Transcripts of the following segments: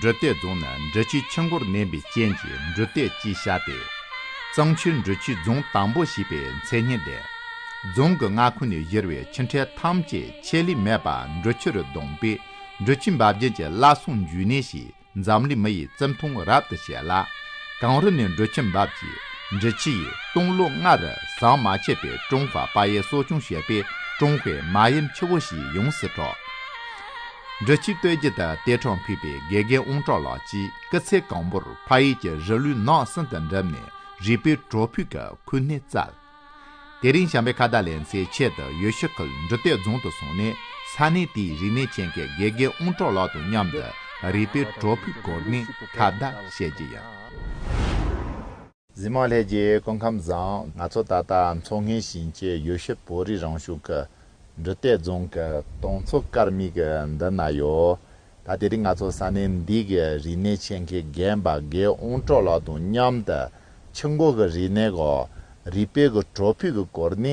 འབྲུ་སྟེགས་རྫོང་ནི་འབྲི་ཆུའི་ཕྱི་མགོར་གནས་པའི་རྐྱེན་གྱིས་འབྲུ་སྟེགས་ཅེས་བྱ་སྟེ། གཙང་ཆུའི་འབྲི་ཆུའི་རྫོང་དང་པོ་ཞེས་པའི་མཚན་སྙན་ལྡན། རྫོང་གི་མངའ་ཁོངས་ནས་གཞིར་བའི་ཕྱི་འཕྲེད་ཐམས་ཅད་ཆད་ལུས་མེད་པར་འབྲི་ཆུ་རུ་བརྡུངས་པས་འབྲི་ཆུའི་འབབ་རྒྱུན་གྱི་བླ་སྲོང་འཇུ་ནེ་ཞེས་འཛམ་གླིང་མི་ཡི་བརྩི་མཐོང་རབ་ཏུ་བྱེད་ལ། གངས་རི་ནས་འབྲི་ཆུ་འབབ་ཅིང་འབྲི་ཆུ་ཡིས་སྟོང་ལོ་ལྔ་རུ་ཟམ་མ་ཆད་པའི་ཀྲུང་ཧྭ་པ་ཡི་གསོ་སྐྱོང་བྱས་པས་ཀྲུང་ཧྭའི་མ་ཡུམ་ཆུ་བོ་ཞེས་ཡོངས་སུ་གྲགས། སྦྲ་ཆུའི་སྟོད་རྒྱུད་དུ་གཏེར་འཕྲོག་ཕུད་པའི་དགེ་རྒན་དབོང་གྲགས་ལགས་ཀྱིས་སྐུ་ཚེ་གང་པོར་ཕ་ཡུལ་གྱི་རི་ལུའི་ནགས་གསེང་དུ་འགྲིམས་ནས་རིག་པའི་བྲོ་ཕུད་ཀྱི་ཁུར་སྣེ་བཙལ། དེ་རིང་བྱམས་པའི་ཁ་བརྡ་ལེན་སའི་ཆེད་དུ་ཡུལ་ཤུལ་ཁུལ་འབྲུ་གཏེར་རྫོང་དུ་སོང་ནས་ས་གནས་དེའི་རིག་གནས་ཆེད་མཁས་དགེ་རྒན་དབོང་གྲགས་ལགས་དང་མཉམ་དུ་རིག་པའི་བྲོ་ཕུད་བསྐོར་ནས་ཁ་བརྡ་བཤད་ཀྱི་ཡོད། འཛིན་མ་ལྷས་རྒྱལ་སྐུ་ཁམས་བཟང། ང་ཚོ་ད་ལྟ་མཚོ་སྔོན་ཞིང་ཆེན་ཡུལ་ཤུལ་བོད་རིགས་རང་གཞུང་གི་འབྲུ་གཏད་རྫོང་གི་དོང་མཚོ་དཀར་མིག་གི་མདུན་ན་ཡོད། ད་དེ་རིང་ང་ཚོ་ས་གནས་འདི་གི་རིག་གནས་ཆེད་མཁས་རྒན་པ་དགེ་དབོང་གྲོ་ལགས་དང་མཉམ་དུ་ཆུ་འགོ་གི་རིག་གནས་གོ། རིག་དཔེ་གི་བྲོ་ཕུད་ཀྱི་སྐོར་ནི་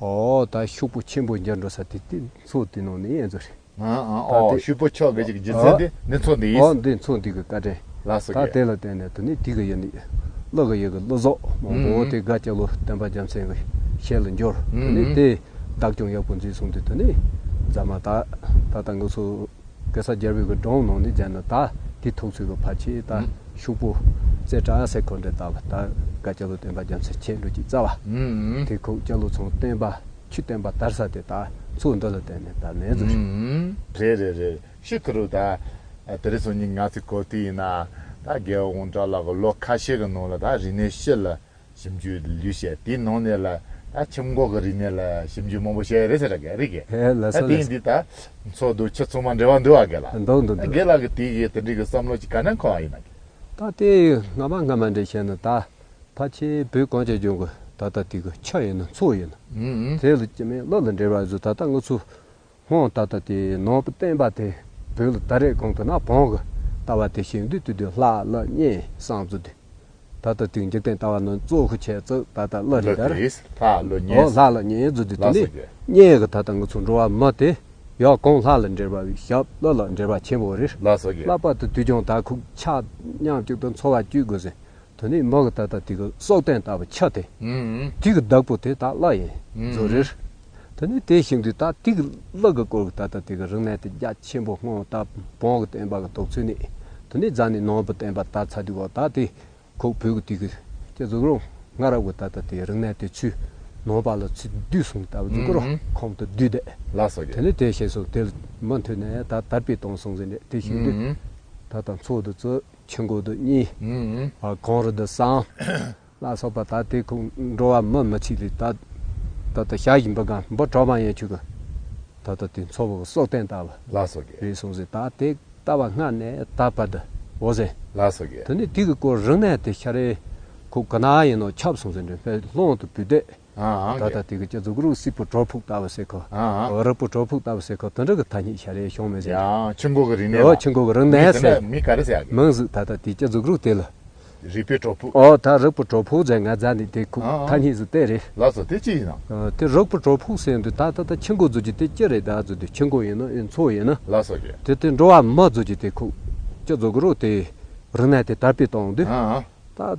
ཨོ། ད་ཤུག་པོ་ཆེན་པོ་འཇར་འགྲོ་ས་དེ་དེ་མཚོ་དེ་ནང་ནས་ཡན་ཚོ་རེད། ཨོ། ཤུག་པོ་ཆོག་གི་རྒྱུ་མཚན་དེ་འདི་མཚོ་འདི་ཡིན། ཨོ་འདི་མཚོ་འདི་གི་བཀའ་དྲིན། ལགས་སོ་ད་གི། དེ་ལ་བརྟེན་ནས་དེ་ནི་དེ་གི་ཡིན། བློ་གི་ཡི་གི་བློ་ཟོག་མང་པོ་དེ་དགའ་སྐྱ་ལོ་བསྟན་པ་རྒྱ་མཚན་གི་ཞལ་ལ་འབྱོར། དེ་ནི་དེས་བདག་སྐྱོང་ཡག་པོ་མཛད་སོང་དུས་དེ་ནི་རྫ་མ་ད་ད་ལྟ་ངུ་ཚོ། གེ་སར་རྒྱལ་བོད་ཀྱི་འབྲོང་ནང་ནས་བྱས་ན་ད་དེ་ཐུགས་ཚོད་ཀྱི་བར་ཆད་ད་ཤུག་པོ། རྩེ་བྲག་སེ་འཁོར་འདྲེ་དག་ད་ག་སྐྱ་ལོ་བསྟན་པ་རྒྱ་མཚོས་ཁྱེད་འགྲོ་ཅིག་རྩ་བ། དེ་ཁུག་སྐྱ་ལོ་ཚང་བསྟན་པ་ཁྱི་བསྟན་པ་དར་ས་དེ་ད་ཚུགས་འདི་ལ་བསྟན་ནས་ད་ནེ་ཛོ་ཤོག། རེད་རེད་རེད་ཤི་ཁུ་རུ་ད་དེ་རི་སོ་གཉིས་ང་ཚིག་གོ་དེ་ཡིན་ན་ད་རྒྱལ་བོ་དགོངས་གྲགས་ལགས་ཀྱི་ལོ་ཁ་ཤས་ཀྱི་ནང་ལ་ད་རི་ནས་ཤི་ལ་ཞིབ་འཇུག་ལུས་ཤེས་དེའི་ནང་ནས་ལ་ད་ཁྱིམ་འགོག་གི་རིག་གནས་ལ་ཞིབ་འཇུག་མང་པོ་བྱས་རེད་ཟེར་ར་རིག་གས་ད་དེང་འདི་ད་འཚོགས་འདུག་ཁྱེད་ཚང་མ་འབྲེལ་བ་འདུག་ཨ་དགེ་ལགས་འདུག་འདུག་འདུག་དགེ་ལགས་ཀྱི་དེ་གི་དེ་འདྲི་གི་བསམ་བློ་ཅིག་ག་ནས་འཁོར་བ་ཡིན་ཨ་དགེ། ད་དེ་ཡི་སྔ་མ་སྔ་མ་འདྲེ་བྱས་ན་ད་ཕ་ཁྱེད་བུ་གང་ཅག་འབྱུང་གི་ད་ད་དེ་གི་ཆ་ཡིན་ན་འཚོགས་ཡིན་ན་དེ་ལ་ཅི་མེད་བློ་ལ་འདྲེ་བ་བཟོས་ད་ད་ང་ཚོ་ཧོ། ད་ལྟ་དེ་ནོར་བུ་བསྟན་པ་དེ་བོད་ལ་ད་རེས་གང་དུ་ན་བོང་གི་ལྟ་བ་དེ་ཞིག་འདུས་ཏེ་དུས་ལྷ་བླ་གཉན་བསང་བཙུགས་ཏེ། ད་ལྟ་དུས་འཇིག་རྟེན་ལྟ་བ་ནི་གཙོ་བོ་བྱས་ཚུལ་ད་ལྟ་བླ་རི་དར། ཨོ་ལྷ་བླ་གཉན་བཙུགས་ཏེ་དེ་ནས་གཉན་གྱི་ད་ལྟ་ང་ཚོ་འགྲོ་བ་མི་དེ་ཡང་གང་ལྷ་ལ་འབྲེལ་བ་བའི་ཞབས་བློ་ལ་འབྲེལ་བ་ཆེན་པོ་རེར་བསླབ་པ་དེ་དུས་ཀྱང་ད་ཁུག་ཆག་མཉམ་གཅིག་ཏུ་འཚོ་བ་བསྐྱུལ་དགོས་ཟིན་དོན་ནི་མ་གི་ད་ལྟ་དེ་གི་སྲོག་བརྟན་ད་བའི་ཆ་སྟེ། དེ་གི་བདག་པོ་དེ་ད་བླ་ཡིན། རྫོགས་རེར། དོན་ནི་དེ་བཞིན་དུ་ད་དེ་གི་བླ་གི་སྐོར་གི་ད་ལྟ་དེ་གི་རང་གནས་དེ་རྒྱ་ཆེན་པོ་སྔོན་ད་བོང་གི་བརྟན་པ་གི་དོགས་ཚུལ་ནི། དོན་ནི་རྫ་ནི་ནོར་བུ་བརྟན་པ་ད་ཚ་དུས་འོག་ད་དེ་ཁོག་བུད་གི་དུས་ཀྱི་ཀྱི་རྫོགས་རུང་སྔ་རབས་གི་ད་ལྟ་དེ་རང་གནས་དེ་ཆུ་ནོར་བ་ལ་ཚུལ་བསྡུས་གསུངས་ད་བ་རྫུ་འགོར་ཁོང་དུ་བསྡུས་ཏེ། དོན་ནི་དེ་ཞེས་སོགས་དེ་ལ་མ་མཐུན་ནས་ད་དར་པའི་དོང་གསུངས་ཟིན་ནས་དེ་བཞིན་དུ་ད་ད་འཚོགས་དུ་རྩོད། ཆུ་འགོ་དུ་གཉིས། གངས་རི་དུ་གསང། ལ་སོགས་པ་དག་དེ་ཁུག་འགྲོ་བ་མི་མི་ཆིག་ལེ་དག། ད་ལྟ་ཞག་བཞི་འབུ་སྒང་འབུ་གྲོག་པང་ཡན་ཆུ་གུ། ད་ལྟ་དུས་མཚོ་བོ་སོགས་བསྟན་བཏབ། ལ་སོགས་ཀྱི། རེ་ཟུང་ཟེ་དག་དེ་ལྟ་བ་སྔ་ནས་ད་བར་དུ་འོ་ཟེ། ལ་སོགས་ཀྱི། དུ་ནི་དུས་ཀྱི་སྐོར་རིང་ནས་དེ་ཤ་རེ་ཁུག་ག་ན་ཡིན་ནོ་ཁྱབ་སོང་ཟེ་འདྲེ་འཕེལ་ལྷོང་དུ་བུད་དེ། ད་ལྟ་དུས་ཀྱི་སྐྱ་གཟུགས་རུ་སི་པུ་གྲོ་ཕུག་ལྟ་བུ་སེ་ཁོ། རག་པུ་གྲོ་ཕུག་ལྟ་བུ་སེ་ཁོ་དོན་གྲུབ་ཀྱི་ཐ་སྙད་ཤ་རའི་གཞུང་མི་བཞིན་དུ། ཆུ་འགོ་གི་རི་ནས་ལ། ཆུ་འགོ་གི་རི་ནས་ཟེར། མི་ག་རེ་ཟེར། མིང་གཟུགས་ད་ལྟ་དུས་སྐྱ་གཟུགས་རུ་དེ་ལ། རིག་པའི་གྲོ་ཕུག། ད་རག་པུ་གྲོ་ཕུག་ཟེར་ང་རྫ་ནི་དེ་ཁུག་ཐ་སྙད་ཟུ་དེ་རེད། ལགས་སོ་དེ་ཅི་ཡིན་ནམ། དེ་རག་པུ་གྲོ་ཕུག་ཟེར་འདུག་ད་ད་ད་ཆུ་འགོ་རྫུ་རྒྱུ་དེ་ཅི་རེད་ད་རྫུ་དེ་ཆུ་འགོ་ཡིན་ནམ་ཨེ་མཚོ་ཡིན་ནམ། ལགས་སོ་ཞེས། དེ་དེ་འགྲོ་བ་མི་རྫུ་རྒྱུ་དེ་ཁུག་སྐྱ་གཟུགས་རུ་དེ་རི་ནས་དེ་དར་སྤེལ་གཏོང་དུས། ད།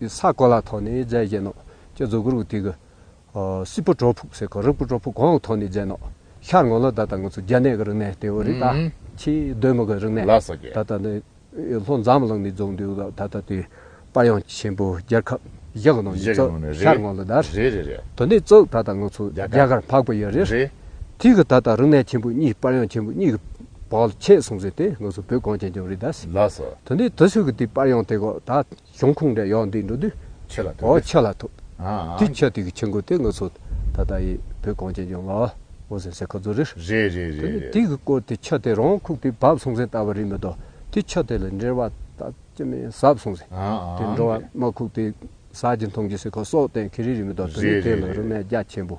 ཡུལ་ས་གོ་ལ་ཐོག་ནས་རྫས་བཞེས་ནོ། ཀྱེ་རྫོགས་སྐུར་བུ་ཏི་གུ། སྲིད་པོ་གྲོག་ཕུག་སེ་གོ་རིགས་པོ་གྲོག་ཕུག་གོང་ཐོག་ནས་བརྒྱན་ནོ། ཤར་ངོ་ལོ་ད་ལྟ་ངུ་ཚུ་རྒྱ་ནད་གི་རིག་གནས་ཏེའོ་རི་ད་ཁྱི་གདོན་མི་གི་རིག་གནས་ད་ལྟ་ནི། ལྷོ་འཛམ་གླིང་ནས་རྫོགས་འདུས་ལ་ད་ལྟ་དུས་དཔའ་དབྱངས་ཆེན་པོ་རྒྱལ་ཁབ་བཞི་གི་ནང་ནས་རྩོད་ཤར་ངོ་ལོ་དར་དུ་ནས་རྩོད་ད་ལྟ་ངུ་ཚུ་རྒྱ་གར་འཕགས་པོ་ཡི་རི་ཐིག་གི་ད་ལྟ་རིག་གནས་ཆེན་པོ་གཉིས་དཔའ་དབྱངས་ཆེན་པོ་གཉིས་གི་བག་ལ་ཆད་སོང་ཟེར་ཏེ་ངོས་སུ་བོད་གངས་ཅན་ལྗོངས་རིས་དཱ། ལ་ས། དོན་དེ་དུས་ཚོད་ཀྱི་དུས་པར་ཡང་དེ་གོ་ད་གཞུང་ཁུངས་འདྲ་ཡག་འདི་འགྲོ་དུས། ཆད་ལ་ཐོད། འོ་ཆད་ལ་ཐོད། དུས་ཆད་དུས་ཀྱི་ཆད་འགོ་དེ་ངོས་སུ་ད་ལྟ་ཡི་བོད་གངས་ཅན་ལྗོངས་ལ་འོ་ཟེར་སའི་ཁ་རྫོ་རེད། རེད་རེད་རེད་རེད། དུས་ཀྱི་སྐོར་དུས་ཆད་དེ་རང་ཁུག་དུས་བབས་སོང་ཟིན་ལྟ་བ་རིག་མི་དོ་དུས་ཆད་དེ་ལ་འབྲེལ་བ་ད་ཅི་མི་ཟབ་སོང་ཟིན། དེ་འགྲོ་བ་མ་ཁུག་དུས་ཟ་རྒྱུ་འཐུང་རྒྱུ་ཟེར་ཁ་སོགས་གཏན་འཁེལ་རིག་རིག་མི་དོ་དོན་དུས་དེ་ལ་རུ་སྨད་རྒྱ་ཆེན་པོ་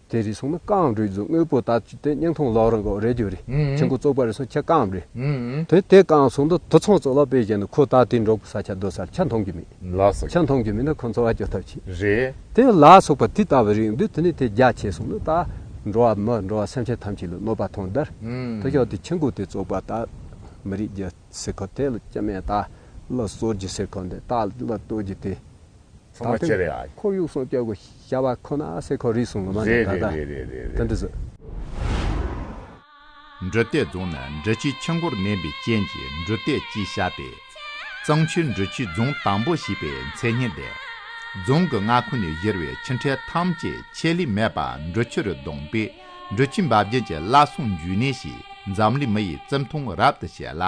དེ་རེ་ཟུང་ནི་རྐང་རེ་རྫུ་དངོས་པོ་དག་སྟེ་སྙིང་ཐུང་ལོགས་རེ་འགོག་རེ་རྒྱུ་རེ་ཆེན་པོ་བཙོག་པ་རེ་ཟུང་ཁྱི་རྐང་རེ། དེ་དེ་རྐང་ཟུང་དུ་དུ་ཚང་བཙོག་ལག་པས་བཞེས་ནས་ཁོ་ད་ལྟའི་འབྲོག་པའི་ས་ཆ་སྡོད་སར་ཆ་མཐོང་གི་མེད། ཆ་མཐོང་གི་མེད་ན་ཁོ་འཚོ་བ་སྐྱོལ་ཐབས་ཆེ། རེད། དེ་ལ་སོགས་པ་དེ་ལྟ་བུ་རིགས་འདུས་དེ་ནས་དེ་རྒྱ་ཆེ་སོང་ནས་ད་འགྲོ་བ་མི་འགྲོ་བ་སེམས་ཅན་ཐམས་ཅད་ལ་གནོད་པ་ཐོངས་དར་དུ་ཤོག་དེ་ཆེན་པོ་དེ་བཙོག་པ་དག་མི་རིགས་ཀྱི་སེ་ཁོ་དེ་ལ་སྐྱེ་མེད་དག་ལ་གསོད་རྒྱུ་སེ་ཁོ་འདི་དག་ལ་གཏོད་རྒྱུ་དེ། ཚང་མ་ཁྱེར་ཡ། ཁོར་ཡུག་སྲུང་སྐྱོབ་གི་བྱ་བ་ཁོ་ན་སེ་ཁོ་རིས་སུ་ངོ་མ་ནས་ད་ལྟ་དེ་འདྲི་ཟེར། འབྲུ་རྟས་རྫོང་ནི་འབྲི་ཆུའི་ཆུ་མགོར་གནས་པའི་རྐྱེན་གྱིས་འབྲུ་རྟས་ཅེས་བྱ་སྟེ། གཙང་ཆུའི་འབྲི་ཆུའི་རྫོང་དང་པོ་ཞེས་པའི་མཚན་སྙན་ལྡན། རྫོང་གི་མངའ་ཁོངས་ནས་གཞིར་བའི་ཆུ་འཕྲལ་ཐམས་ཅད་ཆད་ལུས་མེད་པར་འབྲི་ཆུ་རུ་བརྡུངས་པས་འབྲི་ཆུའི་འབབ་རྒྱུན་གྱི་བླ་སྲུང་འཇུས་གནས་ཞེས་འཛམ་གླིང་མི་ཡི་བརྩི་མཐོང་རབ་ཏུ་བྱེད་ལ།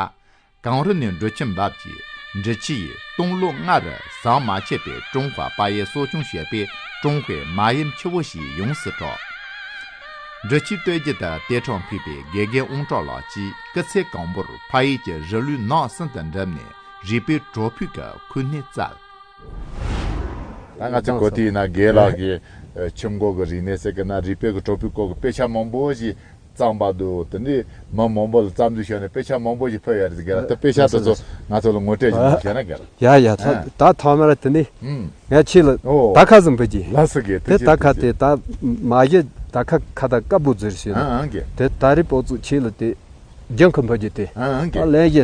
གངས་རི་ནས་འབྲུ་ཁྱིམ་འབབ་ཀྱི་འབྲི་ཆུའི་སྟོང་ལོ་ལྔ་རུ་ཟམ་མ་ཆད་པའི་ཀྲུང་ཧྭ་པ་ཡའི་གསོ་སྐྱོང་བྱེད་པའི་ཀྲུང་ཧྭའི་མ་ཡུམ་ཆུ་བོ་ཞིག་ཡོངས་སུ་གྲགས། འབྲི་ཆུའི་སྟོད་རྒྱུད་དུ་ཏེ་ཁྲོང་ཕུད་པའི་དགེ་རྒན་དབོང་གྲགས་ལགས་ཀྱིས་སྐུ་ཚེ་གང་བོར་ཕ་ཡུལ་གྱི་རི་ལུའི་ནགས་གསེང་དུ་འགྲིམས་ནས་རིག་པའི་བྲོ་ཕུད་ཀྱི་ཁུར་སྣེ་བཙལ། ད་ང་ཚོའི་གོ་ཐོས་ཡིན་ན་དགེ་ལགས་ཀྱིས་ཁྱིམ་འགོག་གི་རིག་གནས་ཟེར་གི་ན་རིག་པའི་བྲོ་ཕུད་སྐོར་གྱི་དཔེ་ཆ་མང་པོ་ཞིག་གཙང་པ་འདུག་དེ་འདྲའི་མི་མང་པོ་ལ་རྩ་འཛུགས་བྱས་ནས་དཔེ་ཆ་མང་པོ་ཞིག་ཕུལ་ཡོད་རེད་གལ་ཏེ་དཔེ་ཆ་དེ་ཚོ་ང་ཚོ་ལ་ངོ་སྤྲད་ཀྱི་འདུག་ཞེ་ན་གལ། ཡ་ཡ་ད་ད་ཐོག་མར་དེ་ནས་ངས་ཁྱེད་ལ་དར་ཁ་ཟིག་འབུལ་གྱིས། ལ་སི་གེ་དེ་དར་ཁ་དེ་དར་མ་གཞི་དར་ཁ་ཁ་ད་ཀ་པོ་ཟེར་ཞེ་ན། དེ་ད་རེས་པོ་ཚུགས་ཁྱེད་ལ་དེ་རྒྱང་ཁུ་འབུལ་རྒྱུ་དེ་ད་ལན་གཞི་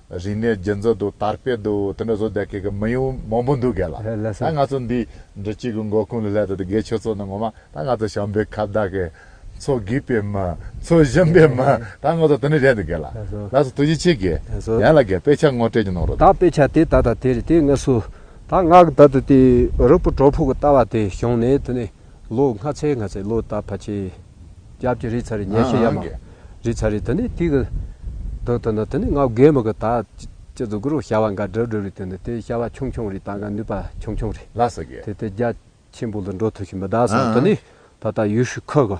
རིག་གནས་རྒྱུན་འཛིན་འདུག་དར་སྤེལ་འདུག་དེ་འདྲ་བཟོ་རྒྱག་མཁན་མི་ཡོང་མང་པོ་འདུག་གལ་ལ་ང་ཚོ་འདི་འདྲ་གཅིག་གི་མགོ་ཁུངས་ལ་སླེབས་ཏེ་དགེ་ཆོས་ཚོགས་ནི་ངོ་མ་ད་ང་ཚོ་ཞང་པའི་ཁ་བརྡ་དགེ་ཚོགས་བགིས་པའི་མི་ཚོ་གཞོན་པའི་མི་ད་ང་ཚོ་དེ་འདྲ་རེད་འདུག་གལ་ལ་སོ་དུ་ཡིད་ཆེས་གི་ཡན་ལ་གི་དཔེ་ཆ་ངོ་སྤྲད་ཀྱི་གནང་རོགས་ད་དང། དཔེ་ཆ་དེ་ད་ད་དེ་རེད་དེ་ངས་སུ་ད་ང་གི་ད་དུ་དེ་རུ་པུ་གྲོགས་ཕུག་གི་ལྟ་བ་དེ་བྱུང་ནས་དེ་ནས། ལོ་སྔ་ཚའི་སྔ་ཚའི་ལོ་ད་བ་ཆེ། རྒྱབ་ཀྱི་རི་ཚ་རི་ཉལ་ཤེས་ཡ་མ། རི་ཚ་རི་དེ་ནི་ཏིག། དུག་དེ་ནི་དེ་ནི་ངའུ་རྒན་མི་གི་ད། ཅི་ཙུ་གུ་རུ་ཤ་བ་འགའ་སྒྲིབ་སྒྲིབ་རི་དེ་ནི་དེ་ཤ་བ་ཆུང་ཆུང་རི་ད་འགའ་ནུས་པ་ཆུང་ཆུང་རི། དེ་དེ་རྒྱ་ཆེན་པོ་ལ་འགྲོ་ཐུ་ཤི་མི་ད་སོང་དེ་ནི་ད་ད་ཡུལ་ཤུལ་ཁུ་གི།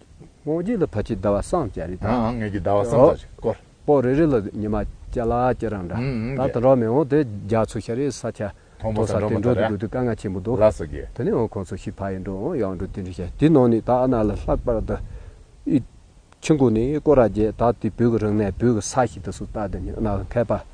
སྔོ་སྐྱེས་ལ་བ་ཅི་ཟླ་བ་སངས་བྱ་རི་དྭགས། ངེད་ཀྱི་ཟླ་བ་སངས་བྱ་ཆེ་སྐོར། པོ་རེ་རེ་ལ་ཉི་མ་སྐྱ་ལ་སྐྱ་རང་འདྲ། ད་ད་རོག་མེ་འོང་དེ་རྒྱ་མཚོ་ཤར་རེའི་ས་ཆ། མཐོང་པོ་ས་འགྲོ་མ་ད་རེ། དགོས་དུས་དཀའ་ངལ་ཆེན་པོ་འདུག། ལ་སོ་རྒྱལ། དེ་ནས་འོང་ཁོང་ཚོ་ཤི་བྷ་ཡི་འགྲོ་འོང་ཡང་འགྲོ་དེ་འདྲ་བྱ། དེ་ནང་ནས་ད་ཨ་ན་ལ་ལྷག་པར་ད། ཨི། ཆིང་ཀོ་ནི་ཀོ་ར་རྒྱལ་ད་དེ་བོད་ཀྱི་རང་གནས་བོད་ཀྱི་ས་ཞིག་ད་སུ་ད་དེ་ནས་ཨ་ན་ལ་མཁས་པ།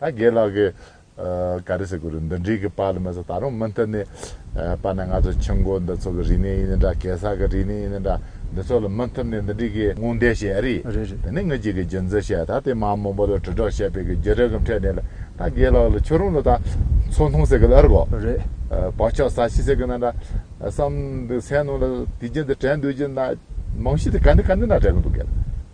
ད་རྒན་ལགས་ཀྱི་ག་རེ་ཟེར་དགོས་རེད་འདི་འདྲིའི་གི་པར་ལ་མི་ཟ་ད་རུང་མུ་མཐུད་ནས་པར་ནས་ང་ཚོ་ཆུ་མགོ་འདི་ཚོ་གི་རིག་གནས་ཡིན་ནི་འདྲ་གེ་སར་གི་རིག་གནས་ཡིན་ནི་འདྲ་འདི་ཚོ་ལ་མུ་མཐུད་ནས་འདི་འདྲིའི་གི་དངོས་འབྲེལ་བཤད་ཡ་རེད་རེད་རེད་དེ་ནི་ངེད་ཅིག་གི་རྒྱུ་མཚན་བཤད་ད་དེ་མ་མོ་པོ་ལ་དྲིལ་སྒྲོག་བཤད་པའི་གི་རྒྱུ་རིག་གམ་ཁྲེལ་ནས་ལ་ད་རྒན་ལགས་ལ་ཁྱོད་རང་ལ་ད་མཚོ་མཐོང་ཟེར་གི་ལ་རེད་གོ་རེད་བག་ཆགས་ཟ་ཤི་ཟེར་གི་ན་འདྲ་བསམ་འདུག་སེམས་ནང་ལ་དུས་རྒྱུན་དུ་དྲན་འདུག་རྒྱུ་ན་མང་ཤོས་དུ་ག་འདི་ག་འདི་འདྲ་དྲན་གི་འདུག་གི་ལ།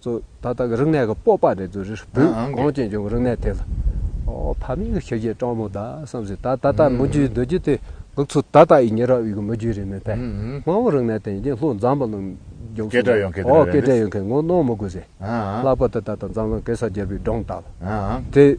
ཚོ་ད་ལྟ་གི་རིག་གནས་ཀྱི་སྤོབས་པ་རེད་ཚོ་རེ་རེ་བུས་གངས་ཅན་ལྗོངས་ཀྱི་རིག་གནས་དེ་ལ། ཨོ་ཕ་མེས་ཀྱི་ཁྱི་རྒྱའི་སྤྲང་མོ་དག་བསམ་ཟིན་ད་ད་ལྟ་མི་རྒྱུའི་རྡོ་རྗེ་དེ་ལུག་ཚོ་ད་ལྟ་ཡི་ཉི་རགས་དབྱིག་གི་མི་རྒྱུ་རེད་མོད་པས་དམངས་བོ་རིག་གནས་དེ་ཡིན་ཀྱི་ལྷོ་འཛམ་བུ་གླིང་རྒྱུགས་སོང་སྐད་གྲགས་ཡོང་མཁན་དེ་རེད་འོ་སྐད་གྲགས་ཡོང་མཁན་ངོ་གནོང་མི་དགོས་ཟེར་ལྷག་པར་དུ་ད་ལྟ་འཛམ་གླིང་གེ་སར་རྒྱལ་པོའི་སྒྲུང་དག་ལ་དེ།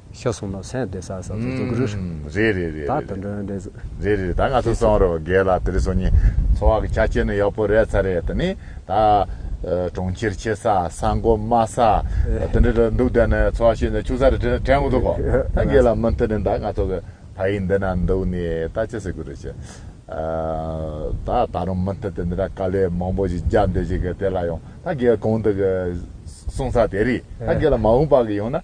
ཤ་སོང་ལ་སེང་སྡེ་སར་ས་ཚུགས་ཚུགས་ཀྱི་རེད། ཨུམ། རེད་རེད་རེད་རེད། ད་དུ་འགྲོ་ཡོང་འདེད་ཚུགས། རེད་རེད་རེད་ད་ང་ཚོ་སོང་རོགས་རྒས་ལགས་དེ་རིང་སོང་ཉིན་འཚོ་བ་གི་ཆ་རྐྱེན་ནི་ཡག་པོ་རེད་ཚར་རེད་ད་ནི་ད། གྲོང་ཁྱེར་ཆེ་ས་ས་མགོ་དམའ་ས་དེ་འདྲ་འདྲ་འདུག་ད་ནི་འཚོ་བ་ཤིན་ཏུ་ཕྱུག་ས་རེད་དྲན་དྲན་གི་འདུག་གོ་ད་རྒས་ལགས་མུ་མཐུད་ནས་ད་ང་ཚོ་གི་ཕ་ཡིས་འདི་ན་འདུག་ནས་ད་ཅི་ཟེར་གི་རེད་ཅེ། ད་ད་རུང་མུ་མཐུད་དེ་འདི་འདྲ་དཀའ་ལས་མང་པོ་ཞིག་རྒྱག་འདོད་ཅིག་གི་དེ་ལ་ཡང་ད་རྒས་གང་འདུག་གི་གསུང་ས་དེ་རེད་ད་རྒས་ལགས་མ་འོངས་པ་གི་ཡང་ན།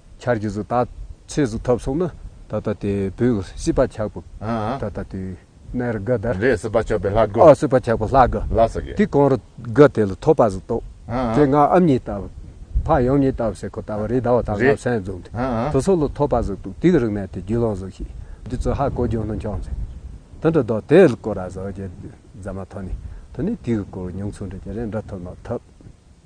ཆར་གྱི་གཟུགས་དག་ཆའི་གཟུགས་ཐབས་སོགས་ནི། ད་ལྟ་དེ་བུ་སྲིད་པ་ཆགས་པོ། ད་ལྟ་དེ་ནས་རི་དགའ་དར། རེས་སྲིད་པ་ཆགས་པའི་ལྷ་དགུ། སྲིད་པ་ཆགས་པའི་ལྷ་དགུ། ལ་སོགས་ཀྱི། དེ་གང་རི་དགའ་དེ་ལ་ཐོགས་པ་གཟུགས་རྟོག། དེ་སྔ་ཨམ་ཉི་ལྟ་བུ། འཕགས་ཡུམ་ཉི་ལྟ་བུ་སེ་ཁོ་ལྟ་བུ་རེས་ཟླ་བ་དང་ལྔ་བ་སྲན་རྫོང་དེ། དེ་སོགས་ལ་ཐོགས་པ་གཟུགས་རྟོག་དེའི་རིགས་ནས་དེ་རྒྱུད་ལོངས་གཟུགས་ཤིག། དེ་ཚོ་ཧ་གོ་རྒྱུ་ནི་འཁྱོངས་མཛད། དེ་འདྲ་བདོག་དེ་ལ་བསྐོར་ར་བཟོ་རྒྱལ། རྫ་མ་ཐོ་ནི། དེ་ནས་དེའི་སྐོར་ཉུང་ཚུལ་འགྲེལ་གྱི་རེས་འདྲ་ཐོ་ནོ་ཐབས།